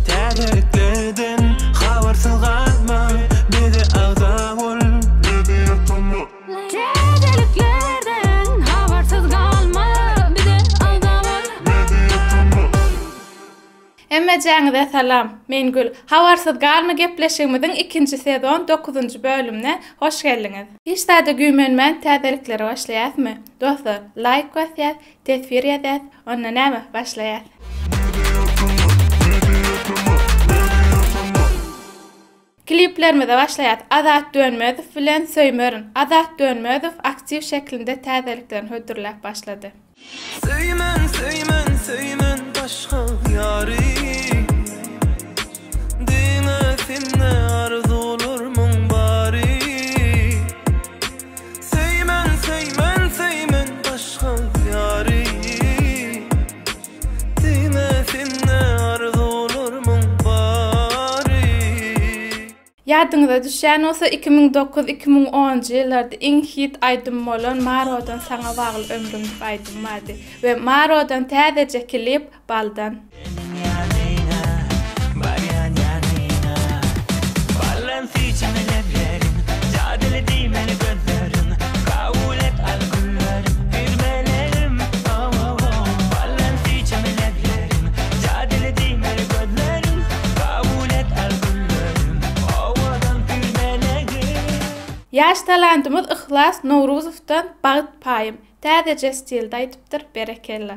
Täzeliklerden habarsyz galma, bize agza bol. Täzeliklerden habarsyz galma, bize agza bol. Hemmejäňize salam, men Gül. Habarsyz galma gepleşigimiziň ikinji sezon dokuzynjy bölümine hoş geldiňiz. Hiç zada güýmenmän täzeliklere başlaýasmy? Dostlar, laýk basýas, Teswir ýazýas, onda näme, başlaýas. Kliplerimize başlaýas. Azat Dönmezow bilen Söýmerin. Azat Dönmezow aktiw şeklinde täzeliklerini hödürläp başlady. Söýmen söýmen söýmen başga ýary Diňe sende arzuwlarmyň bary. Söýmen söýmen söýmen başga ýary Diýme sende arzuwlarmyň bary. Ýadyňyza düşýän bolsa iki müň dokuz, iki müň onunjy ýyllarda iň hit aýdym bolan Marodan saňa bagly ömrüm dip aýdym bardy we Marodan täzeje klip Baldan. Ýaş talantymyz Yhlas Nowruzowdan Bagt paýym, täzeje stilde aýdypdyr, berekella.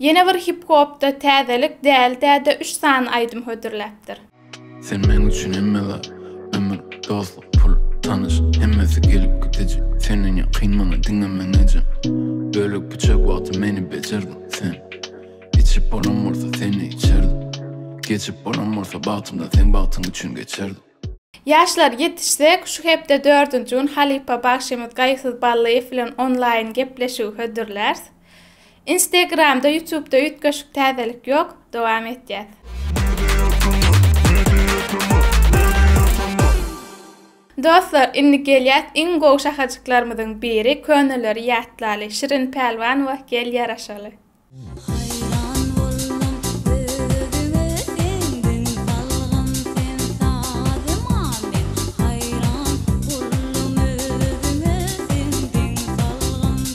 Ýene bir hip-hopda täzelik däl däde üç sany aýdym hödürläpdir. Sen men üçin hemme zat Ömür, dostluk, pul, tanyş Hemmesi gelip gidiji Senden ýakyn maňa diňe men ejem Bölek biçak wagty meni bejerdiň sen Içip bolam bolsa seni içerdim Geçip bolam bolsa bagtymdan seň bagtyň üçin geçerdim. Ýaşlar, ýetişsek, şu hepde dördünji gün halypa bagşymyz Gaýysyz Ballyýew bilen onlaýn gepleşigi hödürlärs. Instagramda ýutubda üýtgeşik täzelik ýok dowam etýäs. Dostlar indi gelýäs iň gowy şahajyklarymyzyň biri köneleri ýatlaly Şirin Pälwanowa gel ýaraşaly. Haýran boldum özüňe seňden salgym sen sazyma men haýran boldum özüňe seňden salgym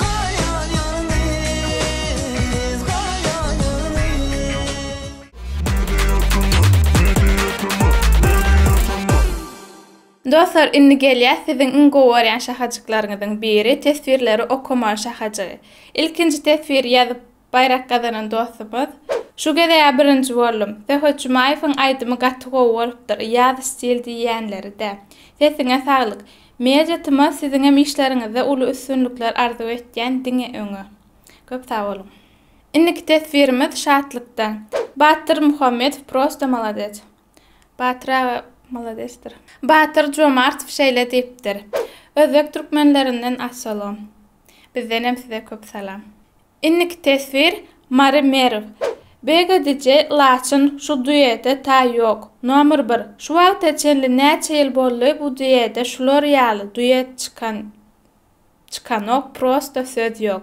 Goýan ýolumyz, goýan ýolumyz. Dostlar indi gelýäs siziň iň gowy görýän şahajyklaryňyzyň biri teswirleri okaman şahajygy. Ilkinji teswiri ýazyp Baýrak gazanan dostumyz. Şu gezegä birinji boldum. Söhbet Jumaýewiň aýdymy gaty gowy bolupdyr, ýaz stil diýýänleri-dä. Sesiňe saglyk. Media tma siziňem işleriňizde uly üstünlikler arzuw etýän diňe öňe. Köp sag boluň. Indiki teswirimiz Şatlykdan. Batyr Muhammedow prosta malades. Batyr aga maladesdir. Batyr Jomartow şeýle diýipdir. Özbek türkmenlerinden assalom. Bizdenem size köp salam. Indiki teswir Mary Merw. Bege DJ Laçyn şu duete ta ýok. Nomer bir. Şu wagta çenli näçe ýyl boldy bu duete şular ýaly duet çykan çykanok prosta söz ýok.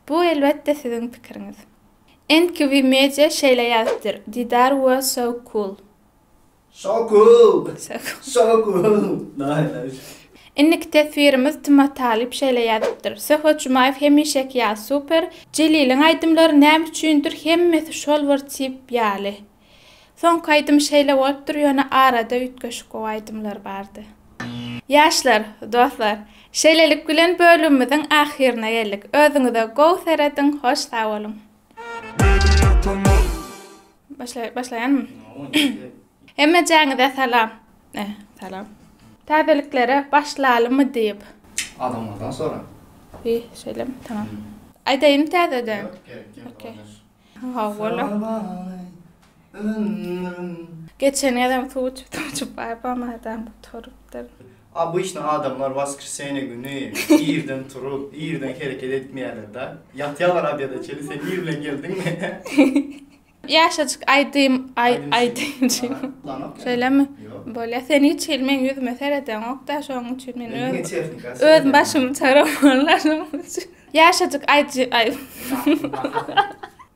Bu elbetde siziň pikiriňiz. NQV Media şeýle ýazypdyr Didar we So Cool. Şoku! Şoku! Daýy daýy. Indiki teswirimiz Tuma Talyp şeýle ýazypdyr, Söhbet Jumaýew hemişeki ýaly super, Jeliliň aýdymlary näme üçindir hemmesi şol bir tip ýaly. Soňky aýdym şeýle bolupdyr ýöne arada üýtgeşik gowy aýdymlar bardy. Ýaşlar, dostlar, şeýlelik bilen bölümimiziň ahyryna geldik. Özüňize gowy serediň, hoş sag boluň! Media kanal. Başla, başlaýanmy? Hemmejaňize salam. Eh, salam. Täzeliklere başlalymy diýip. Adamlardan sora. Bi, şeýlem, tamam. Aýdaýyn täzeden. Okey. Ha, wala. Geçen gezem suw içip, suw içip, baý, bam adam turupdyr. Obyçny adamlar waskrsenýe güni irden turup, irden hereket etmeýärler-da. Ýatýarlar obeda çenli, sen ir bilen geldiňmi? Ýaşajyk aýdym aýdymçy. Şeýlemi? Bolýa, sen hiç hili meň ýüzüme seredeňok-da, şonuň üçin men öz başymy çaramaly, şonuň üçin. Ýaşajyk aýdymçy.